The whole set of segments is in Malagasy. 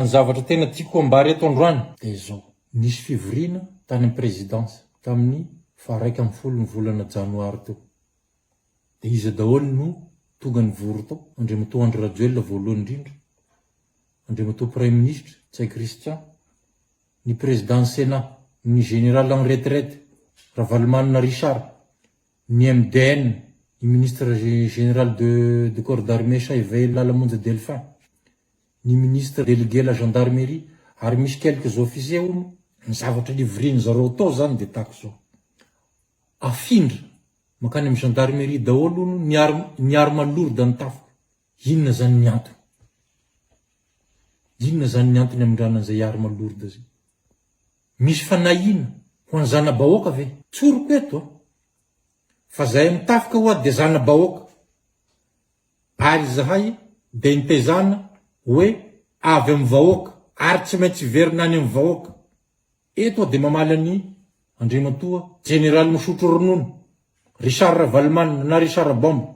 Ny zavatra tena tiako ambara eto androany dia izao, nisy fivoriana tany amin'ny Présidence tamin'ny faharaika ambin'ny folo ny volana janoary teo. Dia iza daholo no tonga nivory tao? Andriamatoa Andry Rajoelina voalohany indrindra, Andriamatoa Praiminisitra Ntsay Christian, ny Président-n'ny Sénat, ny Général en retraite Ravalomanana Richard, ny MDN, ny Ministre Général de de Corps d'Armée Chaiveil Lala Monja Delphin, ny ministre delegue la gendarmerie ary misy quelques officiers hono ny zavatra livriany zareo atao zany de tahaka zao afindra mankany am gendarmerie daholo hono ny arm ny arme lourde ny tafika inona zany ny antony inona zany ny antony amindrana an'izay arme lourde zay misy fanahiana ho any zanabahoaka ve tsoriko eto a fa zahay am tafika ho'a de zanabahoaka Ary izahay dia nitezana hoe avy amin'ny vahoaka ary tsy maintsy hiverina any amin'ny vahoaka. Eto aho dia mamaly an'i Andriamatoa Jeneraly misotro ronono, Richard Ravalomanana na Richard Bombe.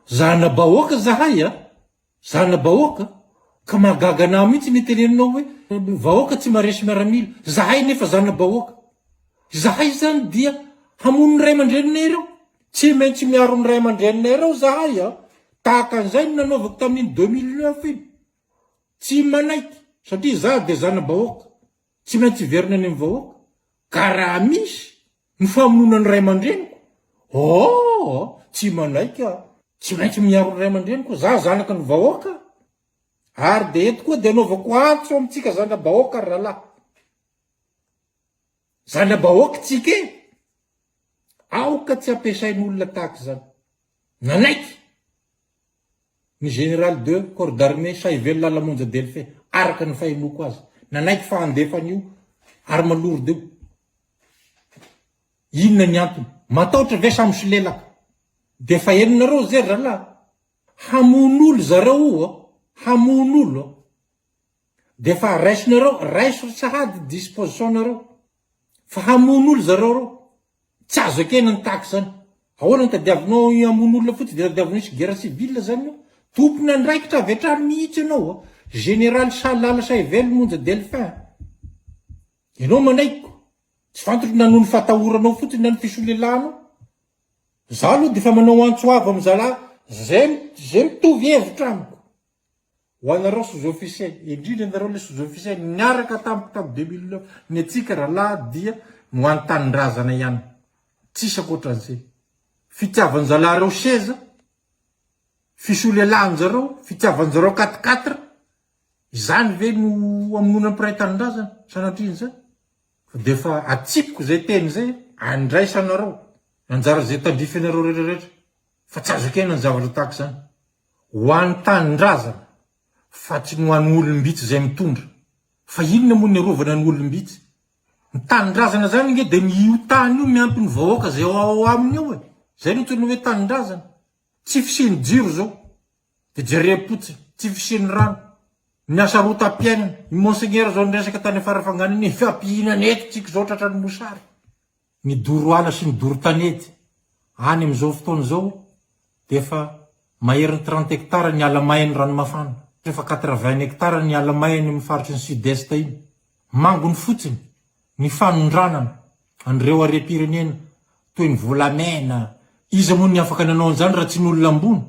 Zana-bahoaka izahay a! Zana-bahoaka! Ka mahagaga anah mihitsy ny teneninao hoe vahoaka tsy maharesy miaramila. Izahay anefa zana-bahoaka. Izahay izany dia hamono ny ray aman-dreninay ireo. Tsy maintsy miaro ny ray aman-dreninay ireo izahay an! Tahaka an'izay no nanaovako tamin'iny deux mille neuf iny. Tsy manaiky satria izaho dia zana-bahoaka, tsy maintsy hiverina any amin'ny vahoaka. Ka raha misy ny famonoana ny ray aman-dreniko, oh! tsy manaiky aho. Tsy maintsy miaro ny ray aman-dreniko, izaho zanaka ny vahoaka. Ary dia eto koa dia anaovako antso amintsika zana-bahoaka ry rahalahy. Zana-bahoaka tsika e! Aoka tsy ampiasain'olona tahaka izany. Nanaiky ny Général de corps d'armée Sahivelo Lalamonja Delphin, araka ny fahenoako azy, nanaiky fa handefa an'io arme lourde io. Inona ny antony? Mataotra ve sa misolelaka? Dia efa henonareo ze ralahy. Hamono olo zareo io a! Hamono olo a! Dia efa raisinareo, raiso ry sahady disposition nareo, fa hamono olo zareo reo, tsy azo ekena ny tahaka izany, ahoana no tadiavinao i hamono olona fotsiny dia tadiavinao hisy guerre civile zany io, tompon andraikitra avy hatrany mihitsy ianao a, général sa lala sa ively monja delphin a, ianao manaiky ko, tsy fantatro na noho ny fatahoranao fotsiny na ny fisolelahanao, za aloha dia efa manao antso avo am zalahy zay zay mitovy hevitra amiko. Ho anareo sous officier, indrindra ianareo le sous officier niaraka tamiko tam deux mille neuf, ny antsika rahalahy dia ho any tanindrazana ihany, tsisy ankoatran'izay. Fitiavan-jalahareo seza, fisolelahan-jareo, fitiavan-jareo quatre quatre, izany ve no hamonoana ny mpiray tanindrazana? Sanatria an'izany? Fa dia efa atsipiko izay teny izay, andraisanareo, anjara izay tandrifinareo rehetra rehetra. fa tsy azo ekena ny zavatra tahaka izany ho an'ny tanindrazana fa tsy ny ho an'ny olom-bitsy izay mitondra fa inona moa ny arovana ny olom-bitsy? Ny tanindrazana izany ange dia ny io tany io miampy ny vahoaka izay ao aminy ao e! Izay no antsoina hoe tanindrazana. Tsy fisian'ny jiro izao dia jerem-potsiny, tsy fisian'ny rano, ny hasarotam-piainana, i Monseigneur izao niresaka tany Farafangana iny, ny fahampihinana eto tsika izao tratran'ny mosary. Ny doro ala sy ny doro tanety any amin'izao fotoana izao dia efa maherin'ny trente hectares ny ala may any Ranomafana, efa quatre-vingts hectares ny ala may any amin'ny faritry ny Sud-Est iny. Mangony fotsiny ny fanondranana an'ireo harem-pirenena toy ny volamena. Iza moa ny afaka nanao an'izany raha tsy ny olona ambony?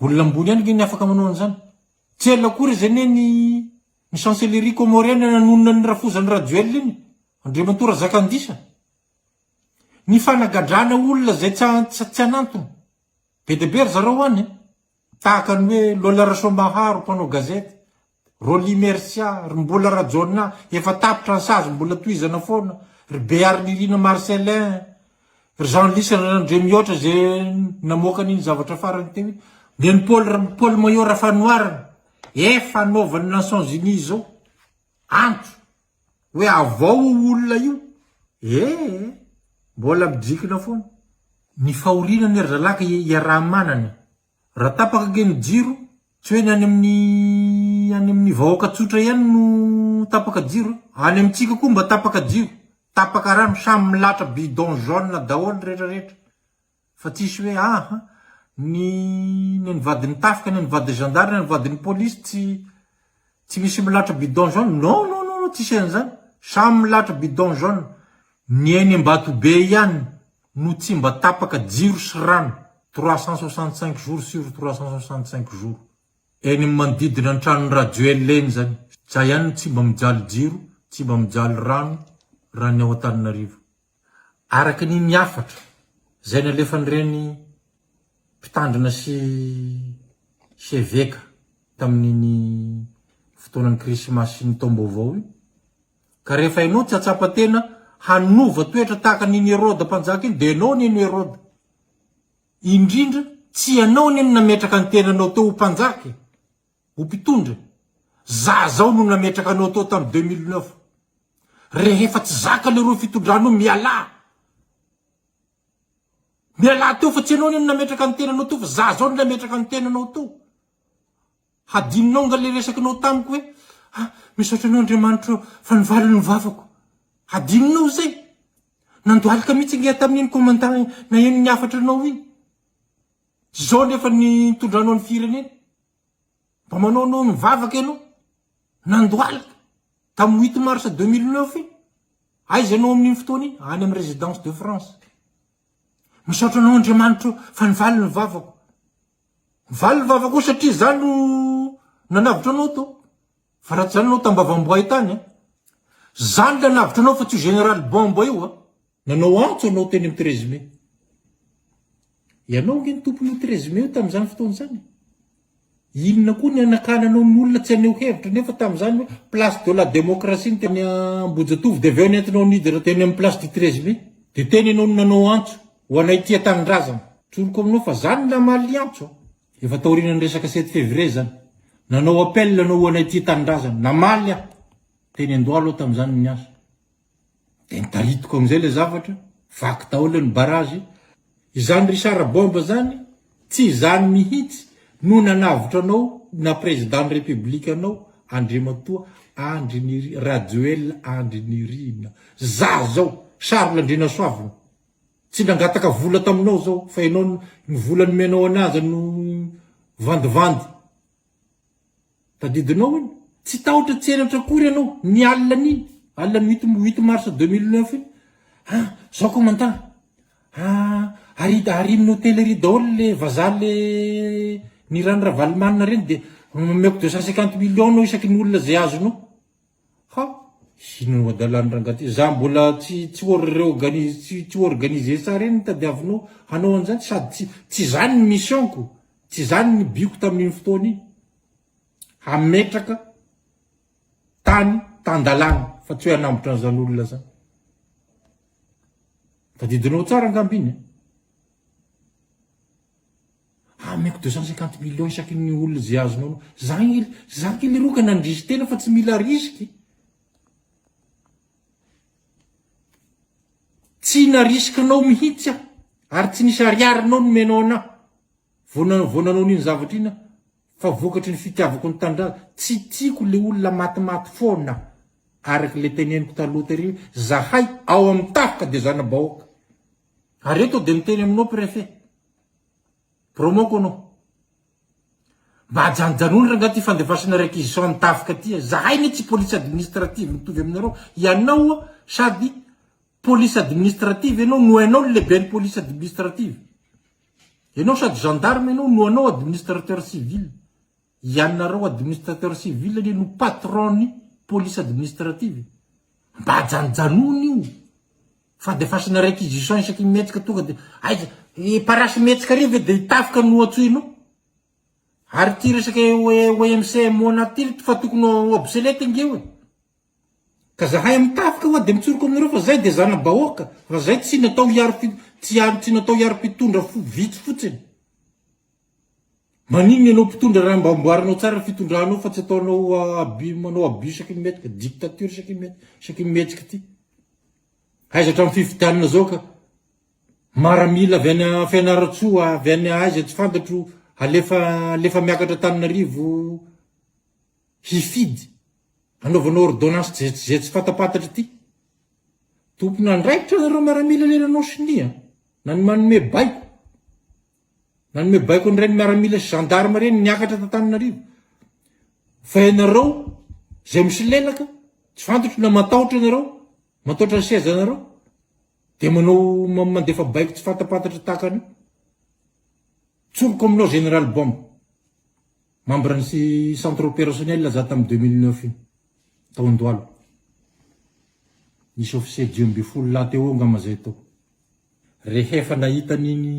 Olona ambony ihany ange ny afaka manao an'izany. Tsy ela akory izy anie ny Ny chancellerie comorienne nanonona ny rafozan'i Rajoelina iny, Andriamatoa Razakandisa. Ny fanagadrana olona izay tsy antsa tsy an'antony. Be dia be ry zareo any e. Tahaka ny hoe Lola Rasoambaharo mpanao gazety, Rolly Mercia, ry Mbola Rajaonah efa tapitra ny sazy mbola tohizana foana, ry Bearinirina Marcellin, Ry Jean-Lys Ranandria mihoatra izay namoaka an'iny zavatra farany teo iny. Dia ny Paul Paul Maillot Rafanoharana efa anaovan'ny Nations Unies izao antso hoe avao io olona io ee mbola midrikina foana. Ny fahoriana anie ry zalahy ka iaraha-manana e! Raha tapaka ange ny jiro, tsy hoe ny any amin'ny any amin'ny vahoaka tsotra ihany no tapaka jiro eh! Any amintsika koa mba tapaka jiro, tapaka rano, samy milatra bidon jaune daholo rehetra rehetra fa tsisy hoe aaha ny ny an'ny vadin'ny tafika, ny an'ny vadin'ny zandary, ny an'ny vadin'ny polisy tsy tsy misy milatra bidon jaune, non non non tsisy an'izany, samy milatra bidon jaune, ny eny Ambatobe ihany. no tsy mba tapaka jiro sy rano trois cent soixante cinq jours sur trois cent soixante cinq jours. Eny am manodidina ny tranon'i Rajoel eny zany. Za ihany no tsy mba mijaly jiro, tsy mba mijaly rano raha ny ao Antananarivo. Araka ny ny hafatra zay nalefan'ireny mpitandrina sy sy eveka tamin'iny fotoanan'ny krismasy sy ny taom-baovao iny, Ka rehefa ianao tsy hatsapa tena hanova toetra tahaka an'iny Heroda mpanjaka iny dia ianao anie no Heroda. Indrindra tsy ianao anie no nametraka ny tenanao teo ho mpanjaka e! Ho mpitondra e! Zah zao no nametraka anao tao tamin'ny deux mille neuf. Rehefa tsy zaka leroa fitondranao mialà! Mialà teo fa tsy ianao anie no nametraka ny tenanao teo fa zah zao no nametraka ny tenanao teo. Hadinonao nga le resakinao tamiko hoe ah misaotra anao Andriamanitra o fa nivaly ny vavako. Hadinonao izay? Nandohalika mihitsy nge tamin'iny commandant naheno ny hafatra anao iny. Zao anefa ny nitondranao ny firenena. Mba manao anao nivavaka ianao. Nandohalika. Tamin'ny huit mars deux mille neuf iny. Aiza ianao amin'iny fotoana iny? Any amin'ny residence de France. Misaotra anao Andriamanitra o fa nivaly ny vavako. Valy ny vavako satria za no nanavotra anao to fa raha tsy zany anao tambavamboay tany a! Za no nanavotra anao fa tsy io général bombe io a! Nanao antso anao teny amin'ny treize mai. Ianao ange no tompon'io treize mai io tamin'izany fotoana izany e! Inona koa ny hanakananao ny olona tsy haneho hevitra nefa tamin'izany hoe place de la démocratie ny teny Ambohijatovo dia avy eo nentinao nidina teny amin'ny place du treize mai. Dia tena ianao no nanao antso. Ho anay tia tanindrazana. Tsoriko aminao fa zany ny lamalin'i Antso a! Efa taorianan'ny resaka sept février zany. Nanao appel ianao ho anay tia tanindrazana. Namaly aho. Teny Andohalo aho tamin'izany no niasa. Dia nitaritiko amin'izay ilay zavatra. Vaky daholo ny barrage. Izany Richard Bombe zany, tsy izany mihitsy no nanavotra anao ho na président ny république anao Andriamatoa Andry Nirina, Rajoelina Andry Nirina. Za zao, Charles Andrianasoavina. Tsy nangataka vola taminao zao fa ianao ny vola nomenao anay aza no vandivandy. Tadidinao iny. Tsy tahotra tsy henatra akory ianao ny alin'iny, alin'ny huit huit mars deux mille neuf iny. Ha, zao commandant, ha ari arin'ny hotellerie daholo le vazaha le ny ran'i Ravalomanana reny de omeko deux cent cinquante millions anao isaky ny olona zay azonao. Ha! Inona no adalany rangah ty? Za mbola tsy tsy orreoganiz tsy tsy organiser tsara eny ny tadiavinao hanao an'izany sady tsy tsy zany ny mission-ko, tsy zany ny but-ko tamin'iny fotoana iny. Hametraka tany tan-dalàna fa tsy hoe hanambotra an'izany olona zany. Tadidinao tsara angamba iny a! Ameko deux cent cinquante millions isaky ny olona ze azonao anao. Za il, za kely roa ka nandrisy tena fa tsy mila risky. Tsy narisika anao mihitsy aho ary tsy nisy ariary anao nomenao anah vao na, vao nanao an'iny zavatra iny aho fa vokatry ny fitiavako ny tanindrazana. Tsy tiako le olona matimaty foana araky le teneniko taloha tery hoe zahay ao amin'ny tafika dia zana-bahoaka. Ary eto dia miteny aminao préfet. Promo kono. Mba ajanojanoiny rangaha ty fandefasana réquisition an'i Tafika ty a. Zahay anie tsy police administrative mitovy aminareo. Ianao a sady police administrative ianao no hainao ny lehiben'ny police administrative. Ianao sady gendarme ianao no anao administrateur civil. Ianareo administrateur civil anie no patron ny police administrative e! Mba ajanojanona io fa de fasana réquisition isaky ny mihetsika tonga de aiza i parasy mihetsika ary ve de i tafika no antsoinao? Ary ty resaka OMC et Mona ty fa tokony ho obsolete nge io e! Ka zahay am tafika hoa de mitsoroko aminareo fa zay de zanabahoaka fa zay tsy natao hiaro tsy natao hiaro mpitondra vitsy fotsiny. Maninona ianao mpitondra raha mba amboarinao tsara ny fitondranao fa tsy ataonao abus manao abus isaky ny mihetsika dictature isaky ny isaky ny mihetsika ity. Aiza hatramin'ny fifidianana zao ka maramila avy any Fianarantsoa avy any aiza tsy fantatro alefa alefa miakatra Antananarivo hifidy anaovana ordonnance tsy zay tsy zay tsy fantapantatra ity. Tompon'andraikitra nareo maramila le nanao sonia na ny manome baiko. Nanome baiko an'ireny miaramila sy gendarme ireny niakatra t'Antananarivo. Fa ianareo izay misolelaka, tsy fantatro na matahotra ianareo, matahotra ny sezanareo, dia manao mandefa baiko tsy fantapantatra tahaka an'io. Tsoriko aminao général Bomba. Membre ny centre opérationnel za tam deux mille neuf iny, taon-doalo. Nisy officier dimy ambin'ny folo lahy teo eo angamba zay tao. Rehefa nahita an'iny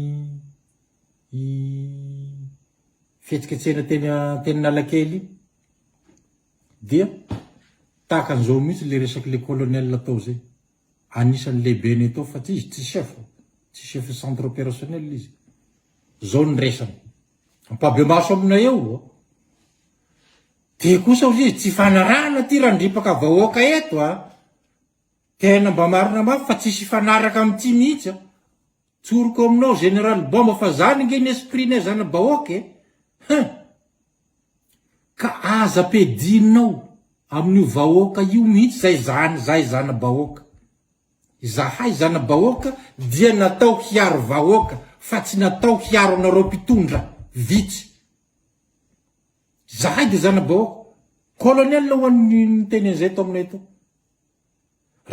fihetsiketsehana teny Anteninalakely iny dia tahaka an'izao mihitsy le resaky le colonel tao zay. Anisan'ny lehibenay tao fa tsy izy tsy chef, tsy chef centre opérationnel izy. Zao ny resany. Ampahibemaso aminay eo ô. Dia kosa hozy izy, tsy ifanarahana ity randripaka vahoaka eto a. Tena mba marina mafy fa tsisy ifanaraka amin'ity mihitsy a. Tsoriko aminao Général Bomba fa zany ange ny esprit-nay zana-bahoaka e. Hein. Ka aza ampiadinao amin'io vahoaka io mihitsy zay zany zahay zana-bahoaka. Izahay zana-bahoaka dia natao hiaro vahoaka fa tsy natao hiaro anareo mpitondra vitsy. Izahay dia zana-bahoaka. Colonel ho an'ny niteny an'izay tao aminay tao.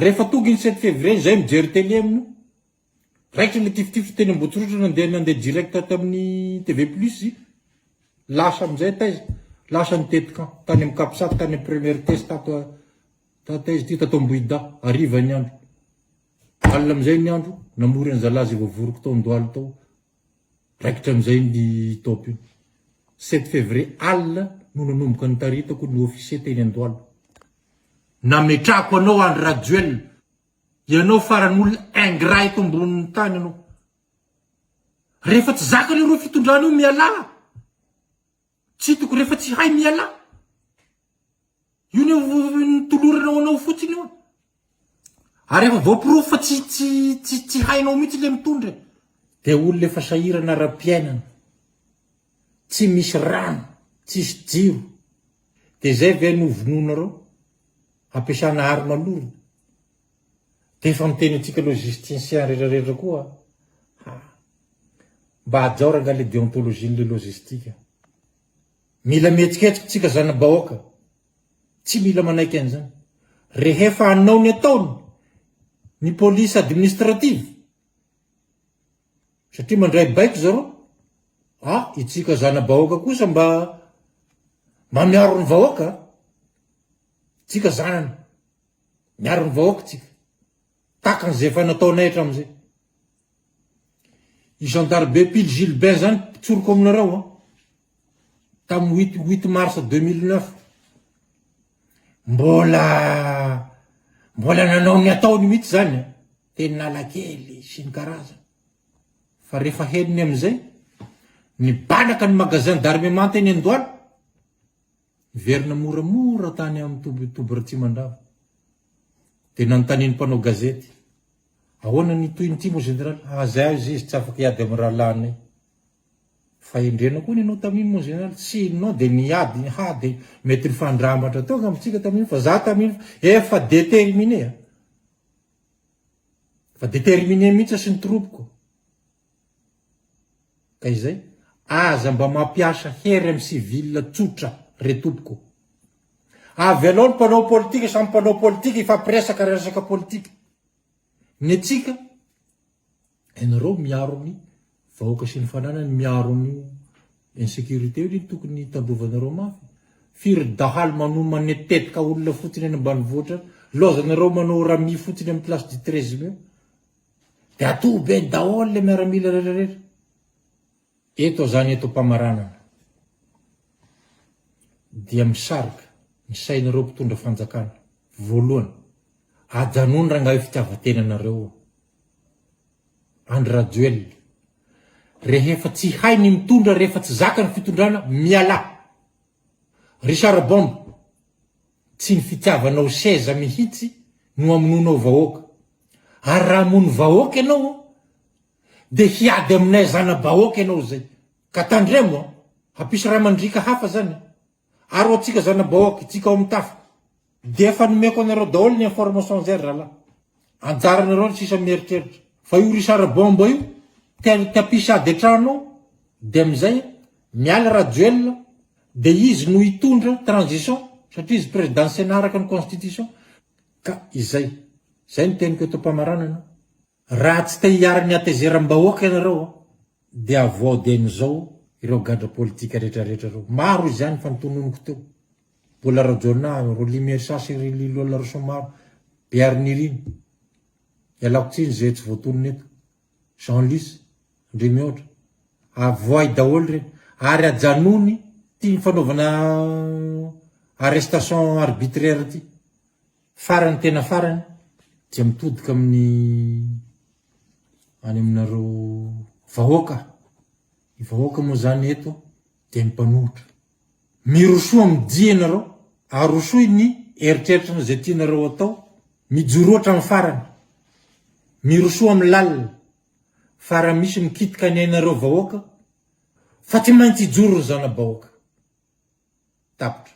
Rehefa tonga iny sept février iny, zay mijery télé amin'io. Raikitra ilay tifitifitra teny Ambohitsirotra nandeha nandeha direct tamin'ny TV plus i. Lasa amin'izay taiza? Lasa nitety camp tany amin'ny Capsat tany amin'ny première test ato Tata izy ity tato Ambohidahy hariva ny andro. Alina amin'izay ny andro, namory an'i zalahy izay voavoriko tao Andohalo tao. Raikitra amin'izay ny top io. Sept février alina no nanomboka nitaritako ny officier teny Andohalo. Nametrahako anao Andry Rajoelina, ianao farany olona ingrat eto ambonin'ny tany ianao. Rehefa tsy zakany ireo fitondrana io mialà. Tsy toko rehefa tsy hay mialà. Io ny nitolorana ho anao fotsiny io. Ary efa voaporofo fa tsy tsy tsy tsy hainao mihitsy le mitondra. E. Dia olona efa sahirana ara-piainana. Tsy misy rano, tsisy jiro. Dia zay ve no vonoinareo? Ampiasana arme lourde. Dia efa miteny antsika logisticien rehetra rehetra koa ha. Mba hajao rangah le deontologie le logistique. Mila mihetsiketsika tsika zanabahoaka. Tsy mila manaiky an'izany. Rehefa hanao ny ataony ny police administrative. Satria mandray baiko zareo. Ah, itsika zanabahoaka kosa mba mba miaro ny vahoaka. Tsika zanany. Miaro ny vahoaka tsika. Tahaka an'izay efa nataonay hatramin'izay. I zandary be pily Gilbert zany mpitsoroko aminareo an. Tamin'ny huit huit mars deux mille neuf. Mbola mbola nanao ny ataony mihitsy zany an. Teny Nalakely sy ny karazany. Fa rehefa henony amin'izay, nibanaka ny magasin d'armement teny Andohalo. Niverina moramora tany amin'ny toby toby Ratsimandrava. Dia nanontanian'ny mpanao gazety, Ahoana ny tohiny ity moa Général? Aza aiza izy tsy afaka hiady amin'ny rahalahinay. Fahendrena koa ny anao tamin'iny moa Général, tsy inona dia niady, ha dia mety nifandrambatra teo angamba tsika tamin'iny fa za tamin'iny efa déterminé a! Efa déterminé mihitsy aho sy ny troupes-ko. Ka izay, aza mba mampiasa hery amin'ny civil tsotra re tompoko. Avelao ny mpanao politika samy mpanao politika hifampiresaka resaka politika. Ny antsika, ianareo miaro ny vahoaka sy ny fananany, miaro an'io insecurité io ny tokony hitandrovanareo mafy. Firy dahalo manomane tetika olona fotsiny any ambanivohitra any, laozanareo manao rami fotsiny amin'ny place du treize mai. De atohobeny daholo le miaramila retraretra. Eto zany eto pamaranana dia misarika ny sainareo mpitondra fanjakana voalohany ajanony rangahy io fitiavatena nareo io. Andry Rajoelina rehefa tsy hay ny mitondra rehefa tsy zaka ny fitondrana miala. Richard Bomb Tsy ny fitiavanao seza mihitsy no amonoanao vahoaka. Ary raha hamono vahoaka ianao dia hiady aminay zana-bahoaka ianao izay. Ka tandremo an! Hampisy ra mandriaka hafa izany an! Ary ho antsika zana-bahoaka, itsika ao amin'ny tafika. Dia efa nomeko anareo daholo ny information izay ry zalahy. Anjaranareo ny sisa mieritreritra. Fa io Richard Bomba io te hampisy ady an-trano ao dia amin'izay an! Miala Rajoelina Dia izy no hitondra transition satria izy président Sénat araka ny constitution ka izay. Izay ny teniko eto am-pamaranana. Raha tsy te hiaro ny hatezeram-bahoaka ianareo dia avoaho dieny izao ireo gadra politika rehetra rehetra ireo. Maro izany fa ny tononiko teo. Bola Rajaonah, Rolly Mersa sy ry Lilolaroson maro. Bearinirina. Ialako tsiny izay tsy voatonona eto. Jean Luce, ndry mihoatra, avoahy daholo re, ary ajanony ty fanaovana arrestation arbitraire ty, farany tena farany dia mitodika amin'ny any aminareo vahoaka, ny vahoaka moa zany eto, dia ny mpanohitra. Mirosoa amin'ny dia ianareo, arosoy ny eritreritrana izay tianareo atao, mijoroa hatramin'ny farany, mirosoa amin'ny lalina, fa raha misy mikitika ny ainareo vahoaka, fa tsy maintsy hijoro ny zana-bahoaka. Tapitra.